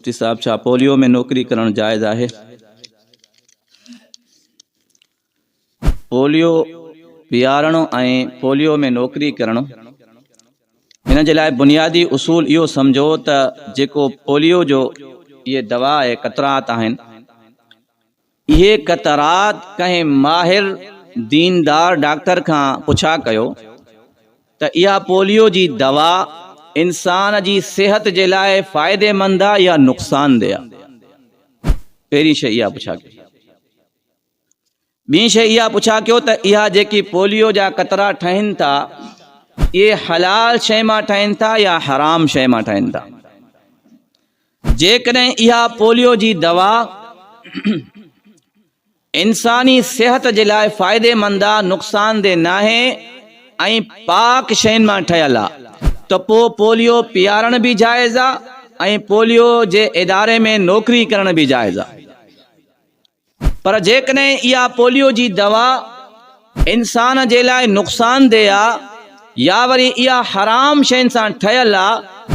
مفتي صاحب ڇا پوليو ۾ نوڪري ڪرڻ جائز آهي؟ پوليو پيارڻ ۽ پوليو ۾ نوڪري ڪرڻ ان جي لاء بنيادي اصول اهو سمجهو ته جيڪو پوليو جو اهي دوا اهي قطرات آهن اهي قطرات ڪنهن ماهر ديندار ڊاڪٽر کان پڇا ڪيو ته اها پوليو جي دوا انسان جي صحت جي لاء فائديمند آ يا نقصاندهه آ؟ پهرين شيء اها پڇا ڪيو. ٻين شيء اها پڇا ڪيو ته اها جيڪي پوليو جا قطرا ٺهن ٿا اهي حلال شيء مان ٺهن ٿا يا حرام شيء مان ٺهن ٿا؟ جيڪڏهن اها پوليو جي دوا انساني صحت جي لاء فائديمند آ، نقصاندهه ناهي ۽ پاڪ شين مان ٺهيل آ ته پوء پوليو پيارڻ به جائز آ ۽ پوليو جي اداري ۾ نوڪري ڪرڻ به جائز آ. پر جيڪڏهن اها پوليو جي دوا انسان جي لاء نقصاندهه آ يا وري اها حرام شين سان ٺهيل آ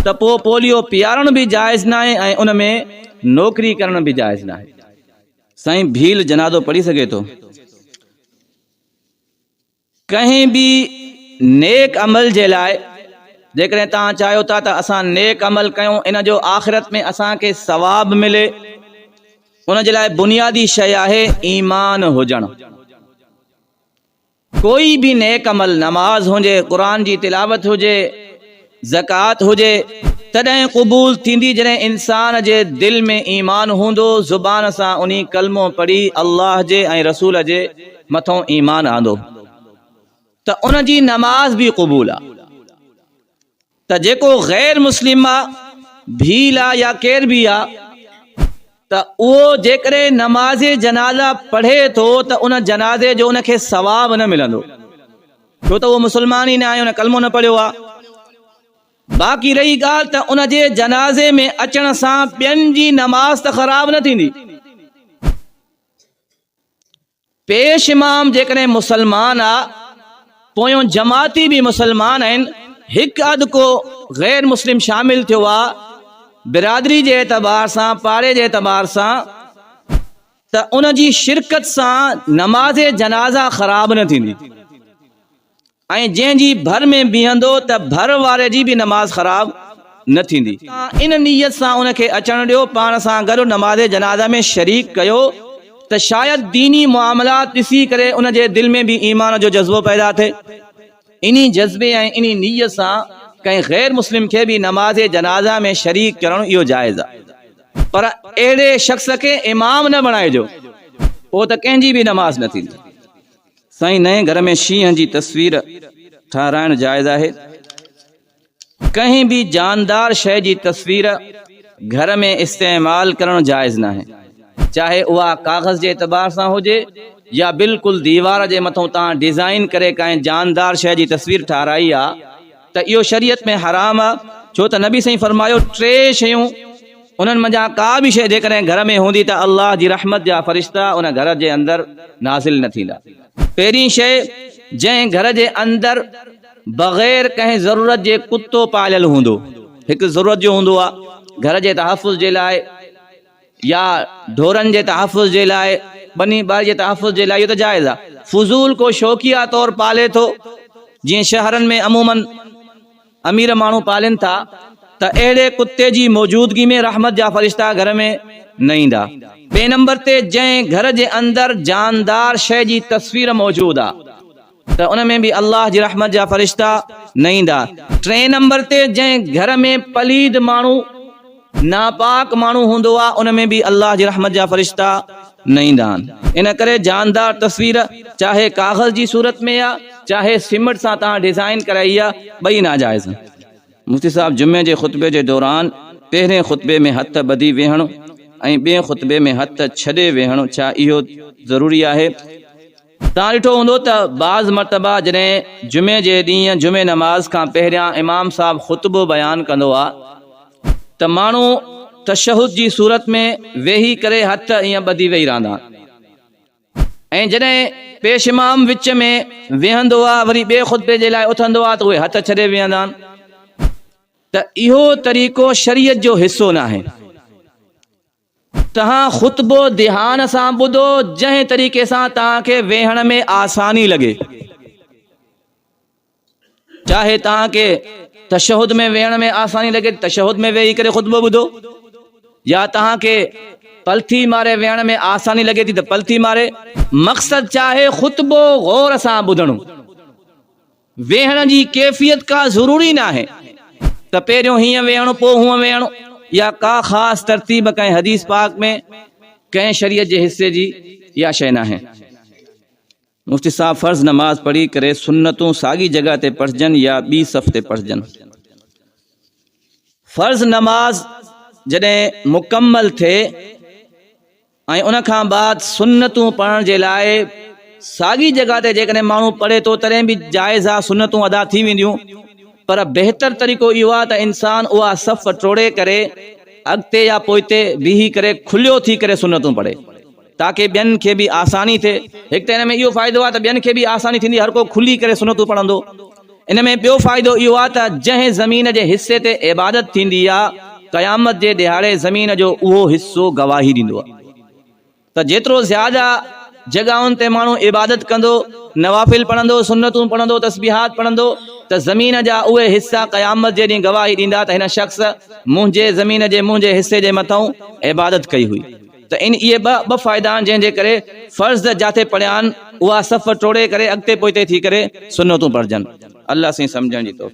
ته پوء پوليو پيارڻ به جائز ناهي ۽ ان ۾ نوڪري ڪرڻ به جائز ناهي. سائين ڀيل جنازو پڙهي سگهي ٿو. ڪنهن به نيڪ عمل جي لاء جيڪڏهن توهان چاهيو ٿا ته اسان نيڪ عمل ڪيون ان جو آخرت ۾ اسان کي ثواب ملي ان جي لاء بنيادي شيء آهي ايمان هجڻ ڪوئي به نيڪ عمل نماز هجي قرآن جي تلاوت هجي زڪوات هجي تڏهن قبول ٿيندي جڏهن انسان جي دل ۾ ايمان هوندو زبان سان انهي ڪلمو پڙهي الله جي ۽ رسول جي مٿون ايمان آندو ته ان جي نماز به قبول آ ته جيڪو غير مسلم آ ڀيل آ يا ڪير به آ ته اهو جيڪڏهن نماز جنازه پڙهي ٿو ته ان جنازي جو ان کي ثواب نه ملندو ڇو ته اهو مسلمان ئي نه آهي ان ڪلمو نه پڙهيو آهي باقي رهي ڳالهه ته ان جي جنازي ۾ اچڻ سان ٻين جي نماز ته خراب نه ٿيندي پيش امام جيڪڏهن مسلمان آ پويون جماعتي به مسلمان آهن هڪ اڌ ڪو غير مسلم شامل ٿيو آ برادري جي اعتبار سان پاڙي جي اعتبار سان ته ان جي شرڪت سان نماز جنازه خراب نه ٿيندي ۽ جنهن جي ڀر ۾ بيهندو ته ڀر واري جي به نماز خراب نه ٿيندي. تان ان نيت سان ان کي اچڻ ڏيو، پاڻ سان گڏ نماز جنازه ۾ شريڪ ڪيو ته شايد ديني معاملات ڏسي ڪري ان جي دل ۾ به ايمان جو جذبو پيدا ٿئي. انهي جذبي ۽ انهي نيت سان ڪنهن غير مسلم کي به نماز جنازه ۾ شريڪ ڪرڻ اهو جائز آهي. پر اهڙي شخص کي امام نه بڻائجو، پوء ته ڪنهن جي به نماز نه ٿيندي. سائين نئين گهر ۾ شينهن جي تصوير ٺهرائڻ جائز آهي؟ ڪنهن به جاندار شيء جي تصوير گهر ۾ استعمال ڪرڻ جائز ناهي چاهي اها ڪاغذ جي اعتبار سان هجي يا بلڪل ديوار جي مٿو تان ڊيزائين ڪري ڪنهن جاندار شيء جي تصوير ٺهرائي آ ته اهو شريعت ۾ حرام آ ڇو ته نبي سائين فرمايو ٽي شيون انهن منجهان ڪا به شيء جيڪڏهن گهر ۾ هوندي ته الله جي رحمت جا فرشتا ان گهر جي اندر نازل نه ٿيندا پهرين شيء جنهن گهر جي اندر بغير ڪنهن ضرورت جي ڪتو پاليل هوندو هڪ ضرورت جو هوندو آ گهر جي تحفظ جي لاء. يا ڍورن جي تحفظ جي لاء ٻني ٻاري جي تحفظ جي لاء اهو ته جائز آهي فضول ڪو شوقيه طور پالي ٿو جيئن شهرن ۾ عموما امير ماڻهو پالين ٿا ته اهڙي ڪتي جي موجودگي ۾ رحمت جا فرشتا گهر ۾ نه ايندا. ٻئي نمبر تي جنهن گهر جي اندر جاندار شيء جي تصوير موجود آهي. ته ان ۾ به الله جي رحمت جا فرشتا نه ايندا. ٽئين نمبر تي جنهن گهر ۾ پليد ماڻهو، ناپاڪ ماڻهو هوندو آهي ان ۾ به الله جي رحمت جا فرشتا نه ايندا آهن. ان ڪري جاندار تصوير چاهي ڪاغذ جي صورت ۾ آهي چاهي سيمٽ سان توهان ڊزائين ڪرائي آهي ٻئي ناجائز آهن. مفتي صاحب جمعي جي خطبي جي دوران پهرين خطبي ۾ هٿ ٻڌي ويهڻ ۽ ٻئي خطبي ۾ هٿ ڇڏي ويهڻ ڇا اهو ضروري آهي؟ توهان ڏٺو هوندو ته بعض مرتبه جڏهن جمعي جي ڏينهن جمعي نماز کان پهريان امام صاحب خطبو بيان ڪندو آ ته ماڻهو تشهد جي صورت ۾ ويهي ڪري هٿ ائين ٻڌي ويهي رهندا آهن ۽ جڏهن پيش امام وچ ۾ ويهندو آ وري ٻئي خطبي جي لاء اٿندو آ ته اهي هٿ ڇڏي ويهندا آهن ته اهو طريقو شريعت جو حصو ناهي. توهان خطبو ڌيان سان ٻڌو جنهن طريقي سان توهان کي ويهڻ ۾ آساني لڳي. چاهي توهان کي تشهد ۾ ويهڻ ۾ آساني لڳي ته تشهد ۾ ويهي ڪري خطبو ٻڌو يا توهان کي پلٿي ماري ويهڻ ۾ آساني لڳي ٿي ته پلٿي ماري. مقصد ڇا آهي خطبو غور سان ٻڌڻ. ويهڻ جي ڪيفيت ڪا ضروري ناهي ته پهريون هيئن ويهڻو پوء هونء ويهڻو يا ڪا خاص ترتيب ڪنهن حديث پاڪ ۾ ڪنهن شريعت جي حصي جي اها شيء ناهي. مفتي صاحب فرض نماز پڙهي ڪري سنتون ساڳي جڳهه تي پڙهجن يا ٻي صف تي پڙهجن. فرض نماز جڏهن مڪمل ٿئي. ۽ ان کان بعد سنتون پڙهڻ جي لاء ساڳي جڳهه تي جيڪڏهن ماڻهو پڙهي ٿو تڏهن به جائز آهي سنتون ادا ٿي وينديون پر بهتر طريقو اهو آهي ته انسان اها صف ٽوڙي ڪري اڳتي يا پوئتي بيهي ڪري کليو ٿي ڪري سنتون پڙهي تاڪه ٻين کي به آساني ٿئي. هڪ ته ان ۾ اهو فائدو آهي ته ٻين کي به آساني ٿيندي هر ڪو کلي ڪري سنتون پڙهندو. ان ۾ ٻيو فائدو اهو آهي ته جنهن زمين جي حصي تي عبادت ٿيندي آهي، قيامت جي ڏهاڙي زمين جو اهو حصو گواهي ڏيندو آهي ته جيترو زياده جڳهن تي ماڻهو عبادت ڪندو، نوافل پڙهندو، سنتون پڙهندو، تسبيحات پڙهندو ته زمين جا اهي حصا قيامت جي ڏينهن گواهي ڏيندا ته هن شخص منهنجي زمين جي منهنجي حصي جي مٿئون عبادت ڪئي هئي. ته ان اهي ٻه ٻه فائدا آهن جنهن جي ڪري فرض جاتي پڙهيا آهن اها صف ٽوڙي ڪري اڳتي پوئتي ٿي ڪري سنتون پڙهجن الله سائين سمجهڻ جي توفيق.